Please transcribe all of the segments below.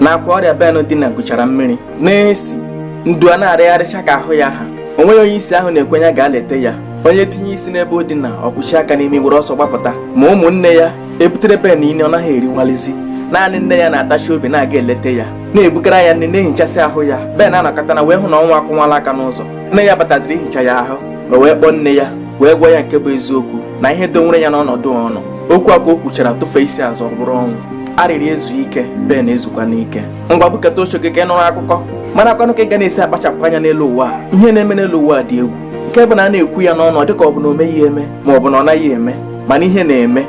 n'akwa ọrịa Ben dina gụchara mmiri na-esi ndu a na-arịgharịcha ka ahụ ya ha o nweghị onye isi ahụ na-ekwenye gaa leta ya onye tinye isi n'ebe o dina o kwuchi aka n'imi were ọsọ gbapụta ma ụmụnne ya ebutere Ben nri ọ naghị eriwalizi naanị nne ya na-atachi obi na-aga eleta ya na-ebugara ya nri na-ehichasị ahụ ya Ben anọkata na wee hụ na ọnwụ akụnwala aka n'ụzọ nne ya bataziri ihicha ya ahụ o wee kpọọ nne ya wee gwa ya nke bụ eziokwu na ihe dowere ya n'ọnọdụ ọ nọ okwu a ka o kwuchara tụfe isi azụ ọ bụrụ ọnwụ arịrị ezu ike Ben ezukwanụ ike ngwa bukata oche gị ka ị nụrụ akụkọ marakwanụ ka ị ga na-esi akpachapụ anya n'elu ụwa ihe na-eme n'elu ụwa dị egwu nke bụ na a na-ekwu ya n'ọnụ ọ dịka ọ bụ na o meghị eme ma ọ bụ na ọ naghị eme mana ihe na-eme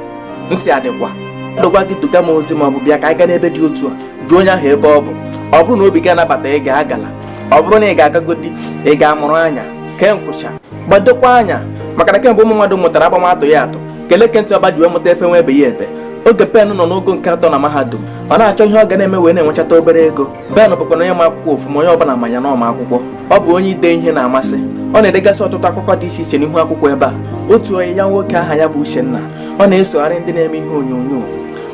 ntị adịkwa mmadụ gwa gị duga m ozi ma ọ bụ bịa ka anyị gaa n'ebe dị otu a jụọ onye ahụ ebe ọ bụ ọ bụrụ na obi gị anabataghị ịga agala ọ bụrụ na ị ga-agagodi ị ga-amụrụ anya kee nkwụcha gbadokwa anya maka na kemgbe ụmụ mmadụ mụtara agba ma atụghị atụ ka eleke ntị ọba ji wee mụta efe ma ebeghị ebe oge Ben nọ n'ogo nke atọ na mahadum ọ na-achọ ihe ọ ga na-eme wee na-enwechata obere ego Ben bụkwa na onye ma akwụkwọ ofuma onye ọbụla ma ya na ọ ma akwụkwọ ọ bụ onye ide ihe na-amasị ọ na-edegasị ọtụtụ akụkọ dị iche iche n'ihu akwụkwọ ebe a otu enyi ya nwoke aha ya bụ Uchenna ọ na-esogharị ndị na-eme ihe onyonyo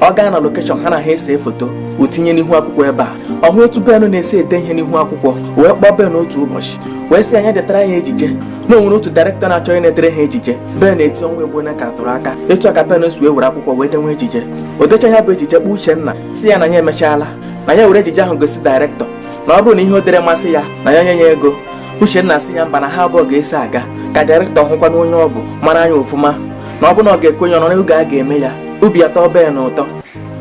ọ gaa na lokeshọn ha na ha ese foto o tinye n'ihu akwụkwọ ebe a ọ hụ otu Ben na-esi ede ihe n'ihu akwụkwọ wee kpọọ Ben otu ụbọchị wee sị ya na ya detara ya ejije na o nwere otu dairektọ na-achọ onye na-edere ha ejije Ben eti ọnwa egbo na ka tụrụ aka etu a ka Ben si wee were akwụkwọ wee denwe ejije o decha ya bụ ejije kpọọ Uchenna sị ya na ya emechaala na ya were ejije ahụ gosi dairektọ na ọ bụrụ na ihe o dere masị ya na ya nye ya ego Uchenna sị ya mba na ha abụọ ga-eso aga ka dairektọ hụkwanụ onye ọ bụ mara ya ofụma na ọ bụ na ọ ga-ekwenye ọ nọ n'oge a ga-eme ya obi atọ Ben ụtọ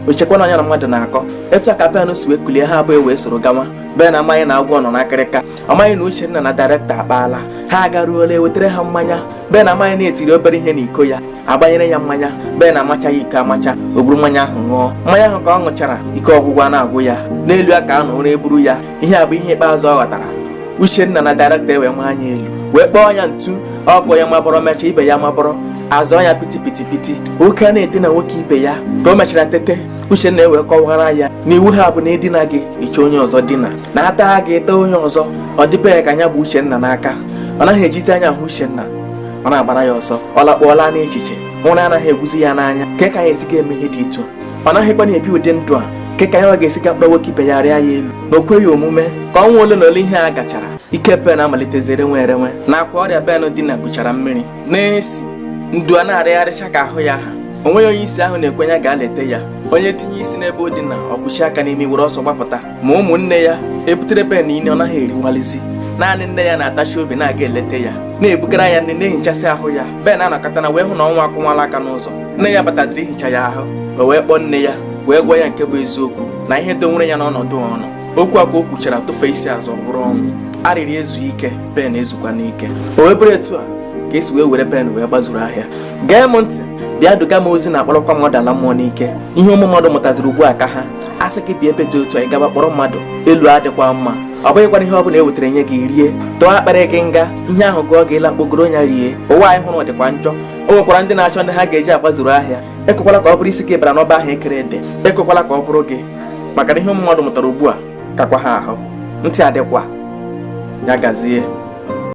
o chekwanụ na ya na mmadụ na-akọ etu a ka Ben si wee kulie ha abụọ ewee soro gawa Ben amaghị na agwọ nọ n'akịrịka amaghị na Uchenna na dairekta akpaala ha agaruola ewetara ha mmanya Ben amaghị na e tiri obere ihe n'iko ya agbanyere ya mmanya Ben amachaghị iko amacha o buru mmanya ahụ ṅụọ mmanya ahụ ka ọ ṅụchara ike ọgwụgwụ a na-agwụ ya n'elu ya ka a nọ ụra eburu ya ihe a bụ ihe ikpeazụ ọ ghọtara Uchenna na dairekta ewee maa ya elu wee kpọọ ya ntu ọkpọ ya mabọrọ mecha ibe ya mabọrọ azụ ya piti piti piti nwoke a na-edina nwoke ibe ya ka o mechara tete Uchenna wee kọwara ya na iwu ha bụ na e dina gị ị chọọ onye ọzọ dina na a taa gị ị taa onye ọzọ ọ dị Ben ka ya gbuo Uchenna n'aka ọ naghị ejizi anya ahụ Uchenna ọ na-agbara ya ọsọ ọ lakpọọla n'echiche ụra anaghị egwuzi ya n'anya kee ka ya esi ga-eme ihe dị etu a ọ naghịkwanụ ebi ụdị ndụ a kee ka ya ga-esi gaa kpọrọ nwoke ibe ya rịa ya elu na o kweghị omume ka ọnwa ole na ole ihe a gachara ike Ben amalitezie renwe erenwe n'akwa ọrịa Ben dina gụchara mmiri na-esi ndu a na-arịgharịcha ka ahụ ya ha o nweghị onye isi ahụ na-ekwenye gaa leta ya onye tinye isi n'ebe o dina ọ kwụchi aka n'imi were ọsọ gbapụta ma ụmụnne ya e butere Ben nri ọ naghị eriwalizi naanị nne ya na-atachi obi na-aga eleta ya na-ebugara ya nri na-ehichasị ahụ ya Ben anọkata na wee hụ na ọnwụ akụwala aka n'ụzọ nne ya bataziri ihicha ya ahụ o wee kpọọ nne ya wee gwa ya nke bụ eziokwu na ihe dowere ya n'ọnọdụ ọ nọ okwu a ka o kwuchara tụfe isi azụ ọ bụrụ ọnwụ arịrị ezu ike Ben ezukwa n'ike o wee bụrụ etu a ka e si wee were Ben wee gbazuru ahịa gee m ntị bịa duga m ozi na-akpọlakwa mmadụ ala mmụọ n'ike ihe ụmụ mmadụ mụtaziri ugbu a ka ha a sị gị bịa ebe dị otu a ị gaba kpọrọ mmadụ elu adịkwa mma ọ bụghịkwana ihe ọ bụla e wetara nye gị rie tụọ akpịrị gị nga ihe ahụ gụọ gị ị laa kpogoro ya rie ụwa anyị hụrụ dịkwa njọ o nwekwara ndị na-achọ ndị ha ga-eji agbazuru ahịa ekwekwala ka ọ bụrụ isi gị bara n'ọba ahụ e kere ede ekwekwala ka ọ bụrụ gị maka na ihe ụmụ mmadụ mụtara ugbu a kakwa ha ahụ ntị adịkwa ya gazie